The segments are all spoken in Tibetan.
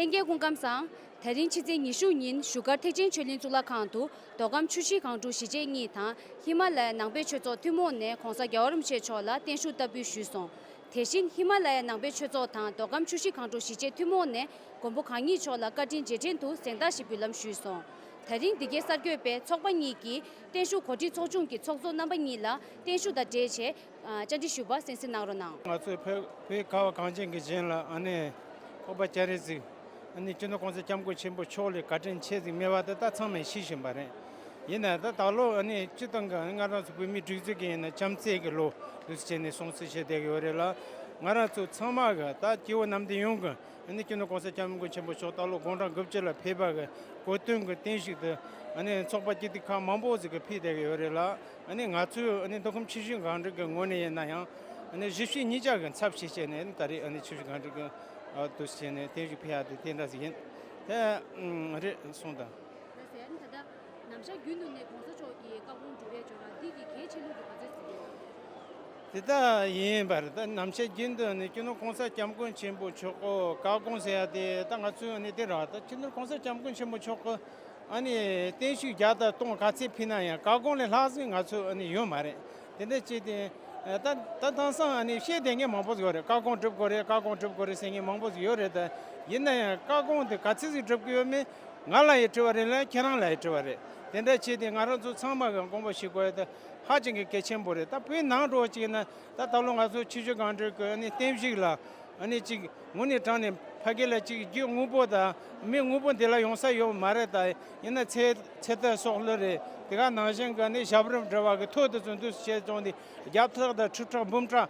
ལྷན་རྒྱས་སྐུ་ཁམས་བཟང། ད་རིང་ཕྱི་ཚེས་ཉི་ཤུ་ཉིན་བཞུགས་སྒར་ཐེག་ཆེན་ཆོས་གླིང་གཙུག་ལག་ཁང་དུ་མདོ་ཁམས་ཆུ་བཞི་སྒང་དྲུག་གཞིས་བྱེས་གཉིས་དང་ཧི་མ་ལ་ཡ་ནང་པའི་ཆོས་ཚོགས་ཐུན་མོང་ནས་གོང་ས་རྒྱ་བ་རིན་པོ་ཆེ་མཆོག་ལ་བརྟན་བཞུགས་བསྟར་འབུལ་ཞུས་སོང། དེ་བཞིན་ཧི་མ་ལ་ཡའི་ནང་པའི་ཆོས་ཚོགས་དང་མདོ་ཁམས་ཆུ་བཞི་གངས་ཕྲུག་བཞི་ཆེ་ཐུན་མོང་ནས་མགོན་པོ་གང་ཉིད་མཆོག་ལ་བཀའ་དྲིན་རྗེས་དྲན་དུ་གཟེངས་རྟགས་ཤིག་འབུལ་ལམ་ཞུས་སོང། ད་རིང་འདི་གའི་གསར་འགོད་པས་ཚོགས་པ་གཉིས་ཀྱིས་བརྟན་བཞུགས་གོ་སྒྲིག་ཚོགས་ཆུང་གི་ཚོགས་གཙོ་རྣམ་པ་གཉིས་ལ་བརྟན་བཞུགས་དང་འབྲེལ་ཆེད་བཅར་འདྲི་ཞུས་པར་གསན་གཟིགས་གནང་རོགས་གནང། ང་ཚོའི་བོད་པའི་ཀ་བ་གངས་ཅན་གྱི་གཞན་ལ་ཨ་ནེ་ཨོ་པ་ཅཱ་རེ་གཟིགས། ཨ་ནེ་སྤྱི་ནོར་ཀོང་ཚེ་སྐྱབས་མགོན་ཆེན་པོ་མཆོག་ལས་བཀའ་དྲིན་ཆེ་གཟིགས་སྨྲེ་བ་དེ་དག་ཚང་མས་ཤེས་བཞིན་པ་རེད། ཡིན་ནའང་ད་ད་ལོ་ནི་སྤྱི་སྟངས་གང་ཡིན་ང་རང་ཚོ་བོད་མིའི་སྒྲིག་འཛུགས་ཀྱི་ཡིན་ན་བྱམས་བརྩེ་གི་ལོ་རེད་ཟེར་ནས་སྲུང་བརྩི་བྱས་བསྡད་ཀྱི་ཡོད་རེད་ལ། ང་རང་ཚོ་ཚང་མ་གི་ད་སྐྱེ་བོ་ནམ་ཟླའི་ཡོངས་ཀྱི་ནི་སྐྱེ་ནུས་གོང་ས་སྐྱབས་མགོན་ཆེན་པོ་མཆོག་ད་ལོ་དགུང་གྲངས་དགུ་བཅུ་ལ་ཕེབས་པ་གི་གོ་སྟོན་གྱི་རྟེན་ཞིག་ཏུ་ནི་ཚོགས་པ་སྐྱིད་སྡུག་ཁག་མང་པོ་ཟིག་གི་ཕེབས་བསྡད་ཀྱི་ཡོད་རེད་ལ། ནི་ང་ཚོའི་ནི་འདུ་ཁོམ་ཆེ་ཤོས་གང་དྲུག་གི་ངོས་ནས་ཡིན་ན་ཡང་ནི་བཞི་བཞི་གཉིས་ཆ་གི་འཚབ་བྱེད་བྱས་ནས་ནི་ད་རེས་ནི་ཆེ་ཤོས་གང་དྲུག་གི་ཏུ་བྱས་ནས་རྟེན་ཞིག་ཕེབས་ཡ་དེ་དེ་འདྲ་ཟིག་ཡིན། དེ་རེད་གསུངས་དང། ལ་ཟེར། ད་ལྟ། ནམ་ཞར་རྒྱུན་དུ་ནས་གོང་ས་མཆོག་གིས་བཀའ་དགོངས་འགྲུབ་པའི་འབྱོར་བ་འདི་ཡི་གེའི་ཕྱི་ལུགས་ཀྱི་བར་ཆོད་ཟེར་གྱི་ཡོད། དེ་ལྟ་ཡིན་པར་ད་ནམ་ཞར་རྒྱུན་དུ་ནས་ཁྱེད་ནོར་གོང་ས་སྐྱབས་མགོན་ཆེན་པོ་མཆོག་གི་བཀའ་དགོངས་ཟེར་ཡ་དེ་ད་ང་ཚོས་ནས་དེ་རག་ད་ཁྱེད་ནོར་གོང་ས་སྐྱབས་མགོན་ཆེན་པོ་མཆོག་གི་ཨ་ནི་བརྟན་བཞུགས་བརྒྱ་དང་སྟོང་ག་ཚད་ཕུལ་ན་ཡང་བཀའ་དགོངས་ལས་ལྷག་ཟིན་ང་ཚོས་ནས་ཡོད་མ་རེད་དེ་འདྲ་བྱས་ཏེ། ད་ད་དེང་སང་ཨ་ནི་བཤད་བསྡད་མཁན་མང་པོ་ཟིག་ཡོད་རེད་བཀའ་དགོངས་སྒྲུབ་དགོས་རེད་བཀའ་དགོངས་སྒྲུབ་དགོས་རེད་ཟེར་མཁན་མང་པོ་ཟིག་ཡོད་རེད་ད། ཡིན་ན་ཡང་བཀའ་དགོངས་དེ་ག་ཚད་ཟིག་སྒྲུབ་ཀྱི་ཡོད་མེད། ང་ལ་ཡི་འཁྲི་བ་རེད་ལ་ཁྱེད་རང་ལ་ཡི་འཁྲི་བ་རེད། དེ་འདྲ་བྱས་ཏེ་ང་རང་ཚོ་ཚང་མ་གི་མགོན་པོ་ཞིག་གོ་ཡོད་ད་ཧ་ཅང་གི་གལ་ཆེན་པོ་རེད་ད་བོད་ནང་འགྲོ་བ་ཅིག་ན་ད་ད་ལོ་ང་ཚོ་ཆུ་ཆུ་གང་འདྲའི་གི་ཨ་ནི་བསྟན་བཤིག་ལ་ཨ་ནི་ཅིག་ངུ་ནི་གྲང་ནི་ཕ་གི་ལ་ཅིག་རྒྱུ་དངུལ་པོ་ད་མི་དངུལ་པོ་འདི་ལ་ཡོང་ས་ཡོད་མ་རེད་ད་ཡིན་ན་ཚེ་ཚེ་ལྟ་སོགས་ལོས་རེད་དེ་ག་ནང་བཞིན་གི་ཨ་ནི་ཞབས་རིམ་འདྲ་བ་གི་ཐོད་དུ་ཙུན་དུ་བྱས་བཙོང་དེ་རྒྱབ་ཐག་ད་ཁྲི་ཕྲག་འབུམ་ཕྲག།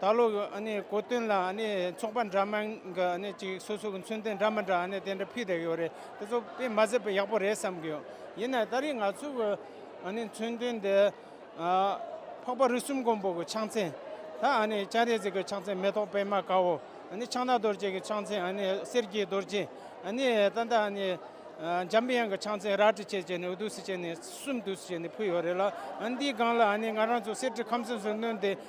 ད་ལོ་གི་གོ་སྟོན་ལ་ཚོགས་པ་འདྲ་མིན་གྱི་སོ་སོ་གི་མཚོན་དོན་འདྲ་མི་འདྲ་དེ་འདྲ་ཕུལ་བསྡད་ཡོད་རེད་དེ་ཚོ་དཔེ་མ་ཟད་པ་ཡག་པོ་རེད་བསམ་གི་ཡོད་ཡིན་ནའི་ད་རེས་ང་ཚོ་གི་མཚོན་དོན་དེ་འཕགས་པ་རི་གསུམ་མགོན་པོ་གི་ཕྱག་མཚན་དང་སྤྱན་རས་གཟིགས་ཀྱི་ཕྱག་མཚན་མེ་ཏོག་པད་མ་དཀར་བོ་ཕྱག་ན་རྡོ་རྗེ་གི་ཕྱག་མཚན་གསེར་གྱི་རྡོ་རྗེ་ད་ལྟ་འཇམ་དབྱངས་ཀྱི་ཕྱག་མཚན་རལ་གྲི་བཅས་བཅས་ནས་འོད་དུ་ཞི་བྱས་ནས་གསུམ་དུ་བྱས་ནས་ཕུལ་ཡོད་རེད་ལ་འདིའི་སྒང་ལ་ང་རང་ཚོ་གསེར་གྱི་ཁམས་གསུམ་སུ་སྣོན་ཏེ།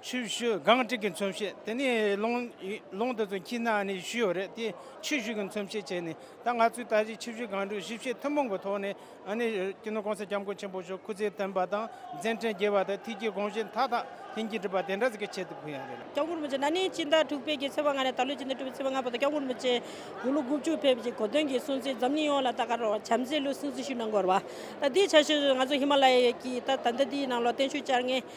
ཆུ་བཞི་སྒང་དྲུག་གི་མཚོན་བྱེད་དེ་ནི་ལུང་དེ་ཚོའི་དཀྱིལ་ན་ནི་བཞི་ཡོད་རེད་དེ་ཆུ་བཞི་གི་མཚོན་བྱེད་བྱས་ནས་ད་ང་ཚོས་ད་གཟིགས་ཆུ་བཞི་སྒང་དྲུག་ཞིབ་བཤེར་ཐུན་མོང་གི་ཐོག་ནས་ཀྱི་ནི་གོང་ས་སྐྱབས་མགོན་ཆེན་པོ་མཆོག་སྐུ་ཚེ་བརྟན་པ་དང་མཛད་འཕྲིན་རྒྱས་པ་དང་ཐིག་གི་དགོངས་བཞེད་མཐའ་དག་ལྷན་གྱིས་འགྲུབ་པ་དེ་འདྲ་ཟིག་གི་ཆེད་དུ་ཕུལ་ཡང་རེད་ལ། སྐྱབས་མགོན་མི་རྗེ་ན་ནིང་སྤྱི་ཟླ་དྲུག་པའི་གི་ཚེས་པ་ལྔ་ནས་ད་ལོའི་སྤྱི་ཟླ་དྲུག་པའི་ཚེས་པ་ལྔ་བར་དུ་སྐྱབས་མགོན་མི་རྗེ་དགུང་ལོ་དགུ་བཅུ་ཕེབས་ཀྱི་གོ་སྟོན་གྱི་སྲུང་བརྩི་འཛམ་གླིང་ཡོངས་ལ་ད་གར་བར་བྱམས་བརྩེའི་ལུས་སྲུང་རྩི་ཤུལ་ནང་འགོར་བ། ད་འདིའི་ཆ་ཤས་སུ་ང་ཚོ་ཧི་མ་ལ་ཡའི་གི་ད་ད་ལྟ་འདིའི་ནང་ལོག་བརྟན་ཆུ་བཅར་ངེས།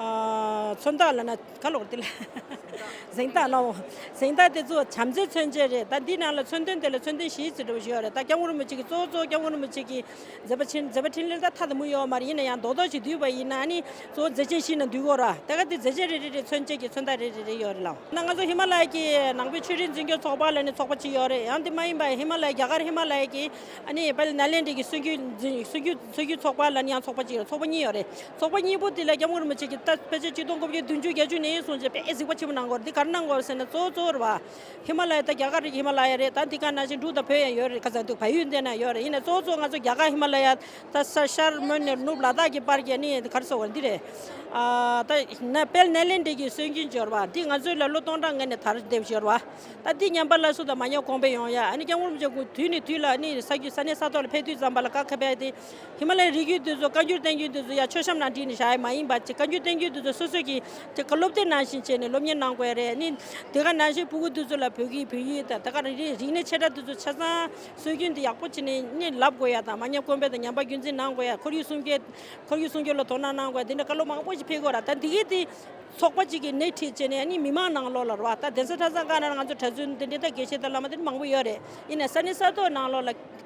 མཚོན་རྟགས་ལ་ན་ག་ལོག་དེ་ལ་གཟེངས་རྟགས་ལའོ། གཟེངས་རྟགས་དེ་ཚོ་བྱམས་བརྩེའི་མཚོན་བྱེད་རེད་ད་འདིའི་ནང་ལ་མཚོན་དོན་དེ་ལ་མཚོན་དོན་གཞིའི་ཚིག་འབྲི་བ་ཞིག་ཡོད་རེད་ད་སྐྱབས་ངོར་མོ་ཅིག་གི་གཙོ་བོ་གཙོ་བོ་སྐྱབས་ངོར་མོ་ཅིག་གི་མཛད་པ་ཕྲིན་མཛད་པ་ཕྲིན་ལས་ད་མཐའ་དང་པོ་ཡོད་བ་མ་རེད་ཡིན་ན་ཡང་རྡོག་རྡོག་ཅིག་བསྡུས་པ་ཡིན་ན་ནི་གཙོ་བོ་མཛད་ཆེན་ཞིག་ན་འདུས་དགོས་ར་ད་ག་དེ་མཛད་ཆེན་རེ་རེ་རེ་མཚོན་བྱེད་ཀྱི་མཚོན་རྟགས་རེ་རེ་རེ་ཡོད་རེད་ལ། ན་ང་ཚོ་ཧི་མ་ལ་ཡའི་ཀྱི་ནང་པའི་ཆོས་རིག་འཛིན་སྐྱོང་ཚོགས་པ་ལ་ནི་ཚོགས་པ་ཅིག་ཡོད་རེད་ཡང་དེ་མ་ཡིན་པ་ཧི་མ་ལ་ཡའི་རྒྱ་གར་ཧི་མ་ལ་ཡའི་ཀྱི་ཨ་ནི་པ་ལི་ན་ལེནྡྲའི་ཀྱི་སྲོལ་རྒྱུན་འཛིན་སྲོལ་རྒྱུན་སྲོལ་རྒྱུན་ཚོགས་པ་ལ་ནི་ཡང་ཚོགས་པ་ཅིག་ཡོད་རེད་ཚོགས་པ་གཉིས་ཡོད་རེད་ཚོགས་པ་གཉིས་པོ་དེ་ལ་སྐྱབས་མགོན་རིན་པོ་ཆེ་གྱིས་ཕལ་ཆེར་ཆིག་སྟོང་དགུ་བརྒྱ་བདུན་ཅུ་གྱ་བཅུ་ནས་བཟུང་ཆེས་དཔེ་གཟིགས་པ་ཆེན་པོ་གནང་སྐོར་འདི་གར་གནང་སྐོར་ཟེར་ན་གཙོ་བོ་གཙོ་བོར་བ་ཧི་མ་ལ་ཡ་དང་རྒྱ་གར་རིགས་ཧི་མ་ལ་ཡ་རེད་ད་འདི་གར་ནང་བཞིན་འབྲུག་དང་བོད་ཡང་ཡོད་རེད་ཁ་ཟ་འདུག་བལ་ཡུལ་འདི་ན་ཡོད་རེད་ཡིན་ནས་གཙོ་བོ་གཙོ་བོ་ང་ཚོ་རྒྱ་གར་ཧི་མ་ལ་ཡ་ད་ས་ཤར་མོན་ནེར་ནུབ་ལ་དྭགས་ཀྱི་བར་གྱི་ནི་གར་སོ་བར་འདི་རེད་ཨ་ད་ནེ་དཔལ་ནཱི་ལེནྡྲའི་གྱི་སྲོལ་རྒྱུན་སྦྱོར་བ་འདི་ང་ཚོའི་ལ་ལོ་སྟོང་ཕྲག་ལྔ་ནས་དར་འདེབས་སྦྱོར་བ་ད་འདི་ཉམས་པ་ལ་སུ་དང་མ་ཉམས་གོང་འཕེལ་ཡོང་ཡ་ཨ་ནི་སྐྱབས་མགོན་རིན་པོ་ཆེ་དུས་ནས་དུས་ལ་ནི་ས་རྒྱུས་ས་གནས་ས་ཐོག་ལ་ཕེབས་དུས་ཙམ་པ་ལ་ཀ་ཁ་བས་ཏེ། ཧི་མ་ལའི་རི་རྒྱུད་དེ་ཚོ་བཀའ་འགྱུར་བསྟན་འགྱུར་དེ་ཚོ་ཡང་ཆོས་གཤམ་ནང་བྲིས་ནས་བཞག་ཡས་མ་ཡིན་པ་བཀའ་འགྱུར་བསྟན་འགྱུར་དེ་ཚོ་སོ་སོས་ཀྱིས་དེ་ག་སློབ་དེབ་ནང་བཞིན་བྱས་ནས་སློབ་གཉེར་གནང་དགོས་ཡས་རེད་ནི། དེ་ག་ནང་བཞིན་སྤུ་གུ་དེ་ཚོ་ལ་བོད་ཀྱི་བོད་ཡིག་དང་ད་ག་རིག་གནས་ཆེ་ཕྲ་དེ་ཚོ་ཆ་ཚང་སྲོལ་རྒྱུན་དེ་ཡག་པོ་བྱས་ནས་ནི་ལབ་དགོས་ཡས་དང་མ་ཉམས་དཀོན་པོ་དང་ཉམས་པ་རྒྱུན་འཛིན་གནང་དགོས་ཡས་ཁོར་ཡུག་སྲུང་སྐྱོད་ཁོར་ཡུག་སྲུང་སྐྱོད་ལ་དོ་སྣང་གནང་དགོས་ཡས་དེ་འདྲ་བཀའ་སློབ་མང་པོ་ཞིག་འཕེལ་དགོས་ར་ད་འདི་གས་དེ་ཚོགས་པ་ཅིག་གིས་སྣེ་ཁྲིད་བྱས་ནས་ནི་མི་མང་ནང་ལོགས་ལ་རོ་ད་གདན་ས་ཁྲ་ཚང་དཀར་ནང་ང་ཚོ་གྲ་ཚུལ་འདི་འདྲའི་ད་གས་ཤེས་ད་བླ་མ་དེ་འདྲ་མང་པོ་ཡོད་རེད་ཡིན་ནས་ས་གནས་ས་ཐོག་ནང་ལོགས་ལ།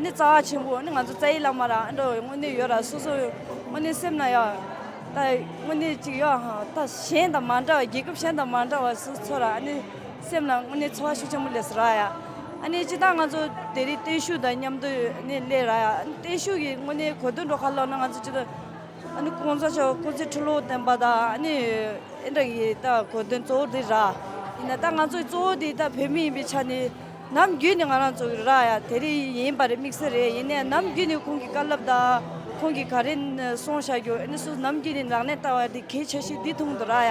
ནི་རྩ་བ་ཆེན་པོ་ནི་ང་ཚོ་རྩ་ཡི་བླ་མ་རང་འགྲོ་བའི་དངོས་གནས་ཡོད་ར་སོ་སོ་དངོས་གནས་སེམས་ན་ཡང་ད་དངོས་གནས་ཅིག་ཡོད་ཧ་ད་གཞན་དང་མ་འདྲ་བ་རྒྱལ་ཁབ་གཞན་དང་མ་འདྲ་བ་སུ་ཚོ་ར་ནི་སེམས་ན་དངོས་གནས་འཚོ་བ་ཤུགས་ཆེན་པོ་ལེ་སོ་ར་ཡ་ཨ་ནི་ཅི་ད་ང་ཚོ་དེ་རིང་བརྟན་བཞུགས་དང་མཉམ་དུ་ནི་སླེ་ར་ཡ་ཨ་ནི་བརྟན་བཞུགས་ཀྱི་དངོས་གནས་གོ་དོན་འགྲོ་ཁ་ལོ་ན་ང་ཚོ་ཅི་ད་ཨ་ནི་ཀོང་ཙོ་ཆོ་ཀོང་ཙེ་ཁྲི་ལོ་བསྟན་པ་དང་ཨ་ནི་ཨེ་འདྲ་གི་ད་གོ་དོན་གཙོ་བོ་དེ་ར་ཡིན་ན་ད་ང་ཚོ་གཙོ་བོ་དེ་ད་བོད་མི་ཡིན་པའི་ཆ་ནས་ནམ་རྒྱུན་ནི་ང་རང་ཚོ་ར་ཡ་དེ་རི་ཡིན་པ་རེད་དམིགས་བསལ་རེད་ཡིན་ནའི་ནམ་རྒྱུན་ནི་ཁོང་གི་དཀའ་ལབ་དང་ཁོང་གི་ག་རེ་སོང་བྱ་རྒྱུ་ཨནི་སུ་ནམ་རྒྱུན་ནི་རང་གནས་ལྟ་བ་འདི་གས་ཆ་ཤི་འདི་ཐུང་དུ་ར་ཡ་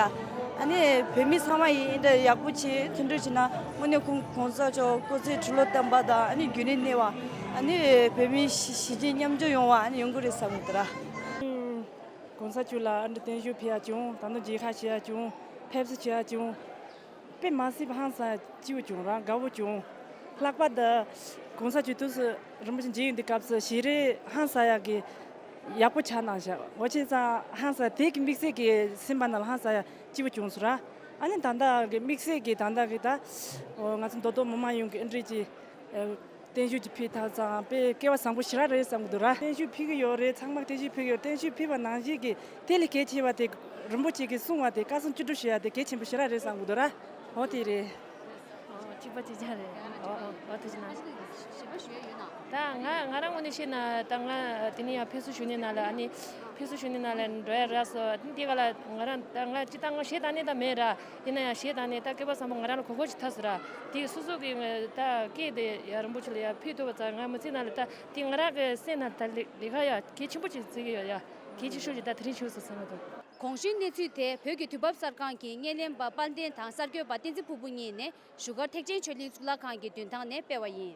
ཨནི་བོད་མི་ཚང་མ་ཡིན་འདྲ་ཡག་པོ་བྱེད་མཐུན་འགྲོ་བྱེད་ན་དངོས་གནས་ཁོང་གོང་ས་མཆོག་སྐུ་ཚེ་ཁྲི་ལོ་བརྟན་པ་དང་ཨནི་རྒྱུན་རིང་གནས་བ་ཨནི་བོད་མི་ཞི་བྱེད་མཉམ་སྦྱོར་ཡོང་བ་ཨནི་ཡོང་གི་རེད་བསམ་ཡོད་ར། གོང་ས་མཆོག་ལ་ཨནི་བརྟན་བཞུགས་ཕེབས་ཡ་བྱུང་ད་ནི་རྗེས་ཁ་ཆེ་ཡ་བྱུང་ཕེབས་བསུ་བྱེད་ཡ་བྱུང། པད་མ་སི་བྷང་སང་སྤྱི་བོ་བྱུང་རང་དགའ་བོ་བྱུང། ལྷག་པར་དུ། གོང་ས་ཆོས་ཐུགས་སུ་རིན་པོ་ཆེ་མཇལ་ཡུལ་འདི་སྐབས་སུ་ཞེ་རེ་ཧང་སང་ཡག་གི། ཡག་པོ་ཆགས་གནང་ཞག་ཨོ་ཆེ་ཚང་ཧང་སང་དེ་གི་དམིགས་བསལ་གི་སེམས་པ་རྣམས་ཧང་སང་ཡག་སྤྱི་བོ་བྱུང་སུ་ར། ཨ་ནི་ད་ལྟ་གི་དམིགས་བསལ་གི་ད་ལྟ་གི་ད། ང་ཚོ་མདོ་སྟོད་མི་མང་ཡོངས་ཀྱི་ཨི་འགྲིག་ཅི། བརྟན་བཞུགས་ཀྱི་ཕིག་དག་ཙམ་དཔེ་སྐལ་བ་བཟང་པོ་ཞིག་རག་རེད་བསམ་གི་འདུག་ར། བརྟན་བཞུགས་ཕིག་གི་ཡོད་རེད་ཚང་མ་བརྟན་བཞུགས་ཕིག་ཡོད་བརྟན་བཞུགས་ཕིག་པ་ནང་བཞིན་གི་དེ་ལས་གལ་ཆེ་བ་དེ་རིན་པོ་ཆེ་གི་གསུང་བ་དེ་བཀའ་གསུང་བཅུ་དྲུག་ཞུ་ཡ་དེ་གལ་ཆེན་པོ་ཞིག་རག་རེད་བསམ་གི་འདུག་ར་འོ་དེ་རེད། ཐིག་པ་གཅིག་ཅར་རེད་འོ་འོ་འོ་དེ་ཅི་ན། ཞེས་པ་ཞུ་ཡ་ཡོད་ན། ད་ང་ང་རང་ངོ་ནས་བཤད་ན་ད་ང་དེ་ནས་ཡང་ཕེབས་བསུ་ཞུ་ནས་ནང་ལ་ནི་ཕེབས་བསུ་ཞུ་ནས་ནང་ལ་འགྲོ་ཡ་རག་སོ་དེ་ག་ལ་ང་རང་ད་ང་ཅི་ད་ང་ཞེ་ད་ནས་ད་མེད་ར། ཡིན་ན་ཡང་ཞེས་དང་ནས་ད་སྐད་པ་བཟང་པོ་ང་རང་ལ་གོ་གོ་ཅིག་ཐག་ཟེར་ར། དེས་སོ་སོ་གིས་ད་སྐད་དེ་ཡ་རིན་པོ་ཆེ་ལ་ཡ་ཕུལ་ཐུབ་པ་ཙང་ང་མི་ཚེ་ནང་ལ་ད་དེ་ང་རང་གི་སེམས་ནང་ད་ལས་ཀ་ཡ་གལ་ཆེན་པོ་ཅིག་བརྩི་གི་ཡོད་ཡ་གལ་ཆེ་ཤོས་ཅིག་ད་དེ་རིང་བྱུང་སོང་ཟེར་མོད་དོ། གོང་བཞིན་གནས་ཚུལ་དེ་བོད་ཀྱི་དུས་བབ་གསར་ཁང་གི་བརྙན་ལེན་པ་དཔལ་ལྡན་དང་གསར་འགྱོད་པ་བསྟན་འཛིན་ཕུར་བུ་གཉིས་ནས་བཞུགས་སྒར་ཐེག་ཆེན་ཆོས་གླིང་གཙུག་ལག་ཁང་གི་མདུན་ཐང་ནས་སྤེལ་བ་ཡིན།